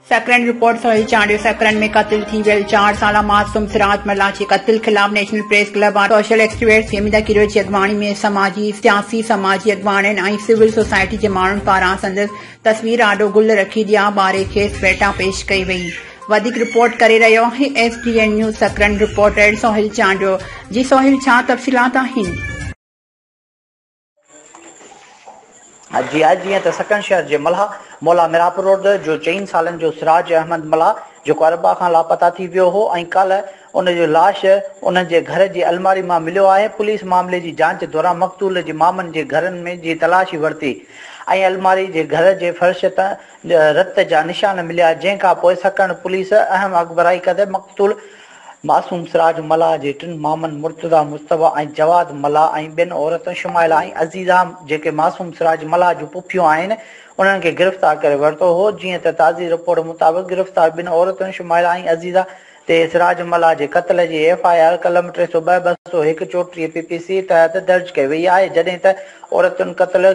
Sakrand report Sohail Chandio Sakrand ۾ قتل ٿي ويل چار سالا معصوم سراج ملاچي قتل خلاف national press club of social experts Fahmida Kero جي اڳواڻي ۾ سماجي سياسي سماجي اڳواڻن ۽ سول سوسائٽي جي ماڻهن پاران سندس تصوير آڏو گل رکي ڏيا ٻاري کيس ڦيٽا پيش ڪئي وئي وڌيڪ رپورٽ ڪري رهيو آهي S D N news Sakrand reporter Sohail Chandio جي سهيل ڇا تفصيلات آهن. جي آء جيئن ته سڪن شهر جي ملاح مولا ميرابرورد جو چئن سالن جو سراج احمد ملاح جيڪو اربع کان لاپتا ٿي ويو هو ۽ ڪالهه ان جو لاش انهن جي گهر جي الماري مان مليو آهي پوليس معاملي جي جانچ دوران مقتول جي مامن جي گهرن ۾ جي تلاشي ورتي ۽ الماري جي گهر جي فرش تان رت جا نشان مليا جنهن کانپوء سڪرنڊ پوليس اهم اڳڀرائي ڪندي مقتول معصوم سراج ملاح جي ٽن مامن مرتضيٰ مجتبيٰ ۽ جواد ملاح ۽ ٻين عورتن شمائلا ۽ عزيزا جيڪي معصوم سراج ملاح جون پڦيون آهن انهن کي گرفتار ڪري ورتو هو جيئن ته تازي رپورٽ مطابق گرفتار ٻن عورتن شمائلا ۽ عزيزا تي اسراج ملاح جي قتل جي ايف آء آر قلم ٽي سؤ ٻه، ٻه سؤ هڪ، چوٽيهه پي پي سي تحت درج ڪئي وئي آهي، جڏهن ته عورتن قتل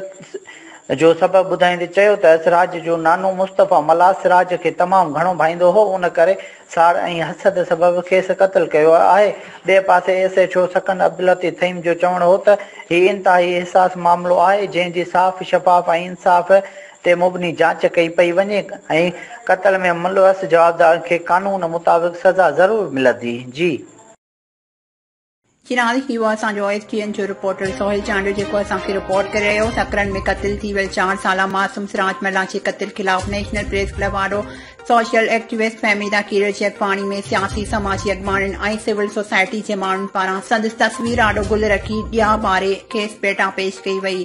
جو سبب ٻڌائيندي چيو ته اسراج جو نانو مصطفيٰ ملاح سراج کي تمام گهڻو ڀائيندو هو ان ڪري ساڙ ۽ حسد سبب کيس قتل ڪيو آهي، ٻئي پاسي ايس ايڇ او سڪن عبداللطيف ٿهيم جو چوڻ هو ته هي انتهائي حساس معاملو آهي جنهن جي صاف شفاف ۽ انصاف تي مبني جاچ ڪئي پئي وڃي ۽ قتل ۾ ملوث جوابدارن کي قانون مطابق سزا ضرور ملندي. جي. چينال، هي هو اسان جو ايس ٽي اين جو رپورٽر سهيل چانڊيو جيڪو اسان کي رپورٽ ڪري رهيو هو سڪرنڊ ۾ قتل ٿي ويل چار سالا معصوم سراج ملاح جي قتل خلاف نيشنل پريس ڪلب آڏو سوشل ايڪٽيوسٽ فهميده ڪيريو جيڪپاڻي ۾ سياسي سماجي اڳواڻن ۽ سول سوسائٽي جي ماڻهن پاران سندس تصوير آڏو گل رکي ڏيئا ٻاري کيس ڀيٽا پيش ڪئي وئي.